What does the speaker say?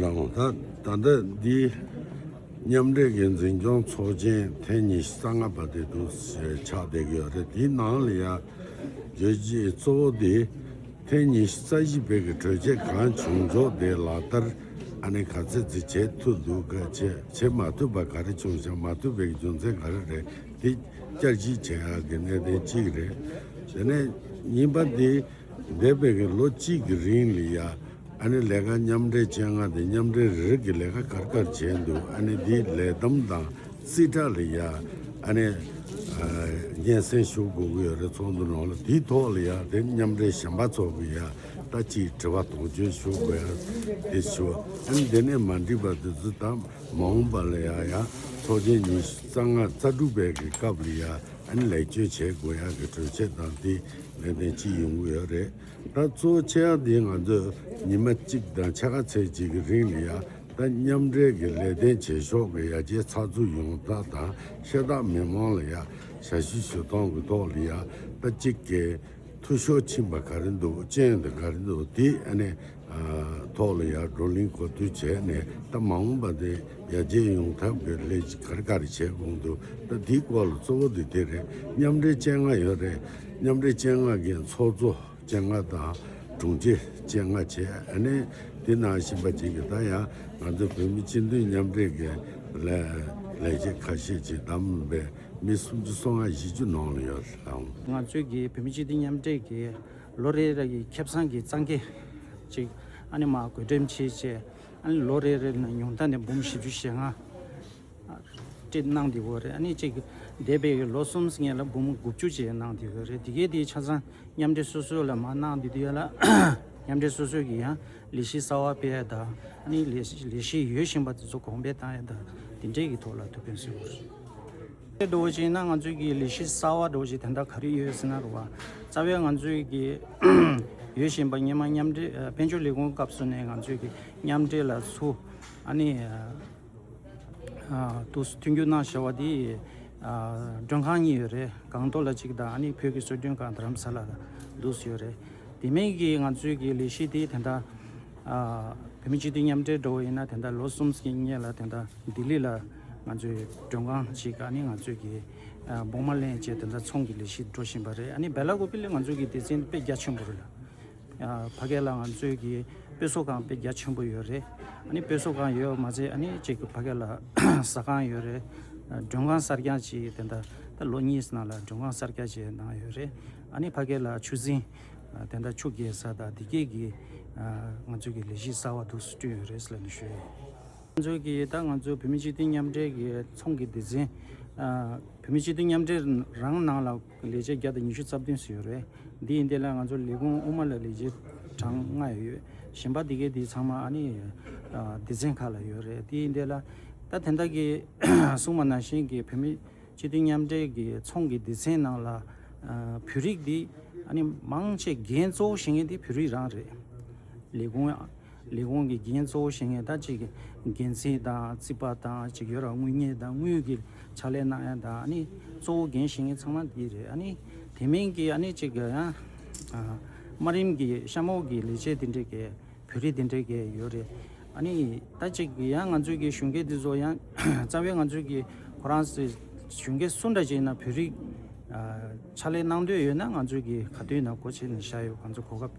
གནང། ད་ལྟ་འདི་མཉམ་འབྲེལ་གྱི་འཛིན་སྐྱོང་ཚོགས་ཆེན་ཐེངས་ཉི་ཤུ་རྩ་ལྔ་པ་དེ་འདུག་ཟེར་ཆགས་བསྡད་ཀྱི་ཡོད་རེད་དེའི་ནང་ལ་ཡང་བརྗོད་རྗེས་གཙོ་བོ་དེ་ཐེངས་ཉི་ཤུ་རྩ་བཞི་བེད་ཀྱི་གྲོས་ཆད་གང་བྱུང་རྫོགས་དེ་ལག་བསྟར་ཨ་ནེ་ག་ཚད་ཚིག་བྱེད་ཐུབ་འདུག་གལ་ཆེ་བྱེད་མ་ཐུབ་པ་ག་རེ་བྱུང་བྱ་མ་ཐུབ་པའི་རྒྱུ་མཚན་ག་རེ་རེད་དེ་བསྐྱར་ཞིབ་བྱེད་ཡག་གི་གནད་དོན་གཅིག་རེད་དེ་ནས་གཉིས་པ་དེ། འདས་པའི་གི་ལོ་གཅིག་གི་རིང་ལ་ཡ་ཨ་ནི་ལས་ཀ་མཉམ་འབྲེལ་བྱེད་ང་དང་མཉམ་འབྲེལ་རེ་རེ་གི་ལས་ཀ་གར་གར་བྱས་འདུག་ཨ་ནི་དེའི་ལས་བསྡོམས་དང་རྩིས་ཁྲ་ལ་ཡ་ཨ་ནི་སྙན་སེང་ཞུ་དགོས་གི་ཡོད་རེད་ཚོགས་འདུ་ནང་ལ་དེའི་ཐོག་ལ་ཡ་དེ་མཉམ་འབྲེལ་གཞན་པ་ཚོ་གི་ཡ་ད་ཅི་དྲི་བ་དོགས་གཅོད་ཞུ་དགོས་ཡ་དེ་ཞུ་ཨ་ནི་དེ་ནས་མ་འགྲིག་པ་དེ་ཚོ་ད་མ་འོངས་པ་ལ་ཡ་ཡ་ཚོགས་ཆེན་ཉི་ཤུ་རྩ་ལྔ་རྩ་དྲུག་པའི་གི་སྐབས་ལ་ཡ་ཨན་ལེགས་བཅོས་བྱེད་དགོས་ཡག་གི་གྲོས་ཆད་དང་དེ་ལས་དོན་ཅི་ཡོང་གི་ཡོད་རེད་ད་གཙོ་བོ་ཆེ་ཡག་འདི་ང་ཚོས་ཉི་མ་གཅིག་དང་ཕྱེད་ཀ་ཚེས་གཅིག་གི་རིང་ནས་ཡག་ད་མཉམ་འབྲེལ་གི་ལས་དོན་བྱེད་ཕྱོགས་གི་ཡག་ཆའི་ཚགས་ཚུད་ཡོང་སྟངས་དང་ཤེས་སྟངས་མི་མང་ལ་ཡག་ཞལ་བཞེས་ཞུ་སྟངས་གི་ཐོག་ལ་ཡག་ད་གཅིག་གི། ཐུ་ཤོ་ཕྱིན་པ་ག་རེ་འདུག་ཅན་དང་ག་རེ་འདུག་དེ་ཨ་ནེ་ཐོག་ལ་ཡར་བགྲོ་གླིང་གོ་བསྡུར་བྱས་ནས་ད་མ་འོངས་པ་དེ་ཡར་རྒྱས་ཡོང་ཐབས་ཀྱི་ལས་ཅི་ག་རེ་ག་རེ་བྱས་གོང་དུ་ད་དེའི་སྐོར་ལ་གཙོ་བོ་དེ་དེ་རེད་མཉམ་འབྲེལ་སྤྱན་སྔ་ཡོད་རེད་མཉམ་འབྲེལ་སྤྱན་སྔ་གི་ཚོགས་གཙོ་སྤྱན་སྔ་དང་དྲུང་ཆེ་སྤྱན་སྔ་བྱས་ཨ་ནེ་དེ་ནང་བཞིན་པ་ཅིག་གིས་ད་ཡང་ང་ཚོ་བོད་མི་སྤྱི་མཐུན་མཉམ་འབྲེལ་གྱི་ལས་བྱེད་ཁ་ཤས་ཀྱིས་བདམས་པའི། མི་སུམ་ཅུ་སོ་ལྔ་བཞི་བཅུ་ནང་ལ་ཡོད་ལ། ང་ཚོའི་གི་བོད་མི་སྤྱི་མཐུན་མཉམ་འབྲེལ་གི་ལོ་རེ་རེ་གི་ཁེབས་ཚང་གི་གཙང་ཁེ་ཅིག་ཨ་ནི་མ་བགོས་འགྲེམས་བྱེད་བཅས་ཨ་ནི་ལོ་རེ་རེ་ནས་ཉུང་མཐའ་ནས་འབུམ་བཞི་བཅུ་ཞེ་ལྔ་བཀྲིས་གནང་དེ་ཡོད་རེད་ཨ་ནི་ཅིག་འདས་པའི་གི་ལོ་གསུམ་ལྔས་ལ་འབུམ་དགུ་བཅུ་བཅས་གནང་དེ་ཡོད་རེད་དེ་གའི་དེ་ཆ་ཚང་མཉམ་འབྲེལ་སོ་སོའི་ལ་མ་གནང་དེ་དེ་ཡོད་ལ། མཉམ་འབྲེལ་སོ་སོའི་གི་ཡང་ལས་གཞི་གསར་བ་སྤེལ་ཡོད་དཱ་ཨ་ནི་ལས་གཞི་ཡོད་བཞིན་པ་དེ་ཚོ་གོང་འཕེལ་བཏང་ཡོད་དཱ་དེ་འབྲེལ་གི་ཐོག་ལ་ཐུགས་ཕན་སེ་ཨོ། རྡོ་རྗེ་ན་ང་ཚོས་ཀྱི་ལི་ཤི་སྲ་བ་རྡོ་རྗེ་དེ་འདྲ་ག་རེ་ཡོད་ཟེར་ན་རུ་བ་རྩ་བའི་ང་ཚོས་ཀྱི་ཡོད་བཞིན་པ་ཉི་མ་མཉམ་འབྲེལ་དཔལ་འབྱོར་ལས་ཁུངས་སྐབས་སུ་ནས་ང་ཚོས་ཀྱི་མཉམ་འབྲེལ་ལ་སུ་ཨ་ནི་དུ་མཐུན་འགྱུར་གནང་ཞེས་བ་དེ་མགྲོན་ཁང་གཉིས་ཡོད་རེད་གངས་ཏོག་ལ་གཅིག་དང་ཨ་ནི་བོད་ཀྱི་སྲོལ་རྒྱུན་ཁང་དྷ་རམ་ས་ལ་ལ་འདུག་ཡོད་རེད་དེ་མིན་གྱི་ང་ཚོས་ཀྱི་ལི་ཤི་དེ་དེ་འདྲ་བོད་མི་སྤྱི་མཐུན་མཉམ་འབྲེལ་འགྲོ་བ་ཡིན་ན་དེ་འདྲ་ལོ་གསུམ་གྱི་སྙེ་ལ་དེ་འདྲ་ལྡི་ལི་ལ། ང་ཚོའི་མགྲོན་ཁང་གཅིག་ག་ནི་ང་ཚོས་ཀྱི་སྦོང་མ་ལེན་བཅས་དེ་འདྲ་ཚོང་གི་ལས་གཞི་འགྲོ་བཞིན་པ་རེད་ཨ་ནི་བལ་ལ་གོ་པི་ལི་ང་ཚོས་ཀྱི་སྡེ་ཚན་དཔེ་རྒྱ་ཆེན་པོ་རེད་ལ། ཕ་སྐད་ལ་ང་ཚོས་ཀྱི་དཔེ་གསོ་ཁང་དཔེ་རྒྱ་ཆེན་པོ་ཡོད་རེད་ཨ་ནི་དཔེ་གསོ་ཁང་ཡོད་པ་མ་ཟད་ཨ་ནི་གཅིག་གི་ཕ་སྐད་ལ་ཟ་ཁང་ཡོད་རེད། མགྲོན་ཁང་གསར་རྐྱང་གཅིག་དེ་འདྲ་ད་ལོ་གཉིས་ནང་ལ་མགྲོན་ཁང་གསར་རྐྱ་བཅས་གནང་ཡོད་རེད་ཨ་ནི་ཕ་སྐད་ལ་ཆུ་རྫིང་དེ་འདྲ་ཆུ་རྒྱས་ས་དང་དེ་སྐད་ཀྱི་ང་ཚོས་ཀྱི་ལས་གཞི་གསར་བ་དུ་སུ་བསྐྲུན་ཡོད་རེད་ལ་ནི་ཞུ་ཡོད། ང་ཚོའི་གི་ད་ང་ཚོའི་བོད་མི་སྤྱི་མཐུན་མཉམ་འབྲེལ་གི་ཚོང་གི་སྡེ་ཚན། བོད་མི་སྤྱི་མཐུན་མཉམ་འབྲེལ་རང་ནང་ལ་ལས་བྱེད་བརྒྱ་དང་ཉི་ཤུ་རྩ་བདུན་ཟེར་ཡོད་རེད། འདི་ཡིན་དེ་ལ་ང་ཚོ་ལས་ཁུངས་དབུ་མ་ལ་ལས་བྱེད་གྲངས་ལྔ་ཡོད་ཡོད། གཞན་པ་འདི་གའི་འདི་ཚང་མ་ཨ་ནི་སྡེ་ཚན་ཁག་ལ་ཡོད་རེད་དེ་ཡིན་དེ་ལ། ད་དེ་འདྲ་གི་སྲུང་མ་ནང་བཞིན་གི་བོད་མི་སྤྱི་མཐུན་མཉམ་འབྲེལ་གི་ཚོང་གི་སྡེ་ཚན་ནང་ལ། བོད་རིགས་འདི་ཨ་ནི་མང་ཆེ་རྒན་གཙོ་བོ་བྱེད་མཁན་འདི་བོད་རིགས་རང་རེད། ལས་ཁུངས། ལས་ཁུངས་ཀྱི་འགན་གཙོ་བོ་བཞེས་མཁན་དང་གཅིག་འགན་འཛིན་དང་རྩིས་པ་དང་གཅིག་ཡོད་རང་དངུལ་གཉེར་དང་དངུལ་གྱི་ཕྱག་ལས་གནང་མཁན་དང་གཙོ་བོ་འགན་བཞེས་མཁན་ཚང་མ་འདི་རེད། དེ་མིན་གྱི་གཅིག་དམའ་རིམ་གྱི་གཤམ་འོག་གི་ལས་བྱེད་འདི་འདྲས་ཀྱི་བོད་རིགས་འདི་འདྲས་ཀྱི་ཡོད་རེད། ད་གཅིག་ཡང་ང་ཚོས་ཀྱི་གཞུང་སྒེར་འདི་ཚོ་ཡང་རྩ་བའི་ང་ཚོས་ཀྱི་ཁོ་རང་གཞུང་སྒེར་སུ་འདྲ་ཅིག་ཡིན་ན་བོད་རིགས་ཕྱག་ལས་གནང་འདོད་ཡོད་ན་ང་ཚོས་ཀྱི་ག་དུས་ན་གོ་ཕྱེ་ནས་བཞག་ཡོད་གང་ཚོད་གོ་སྐབས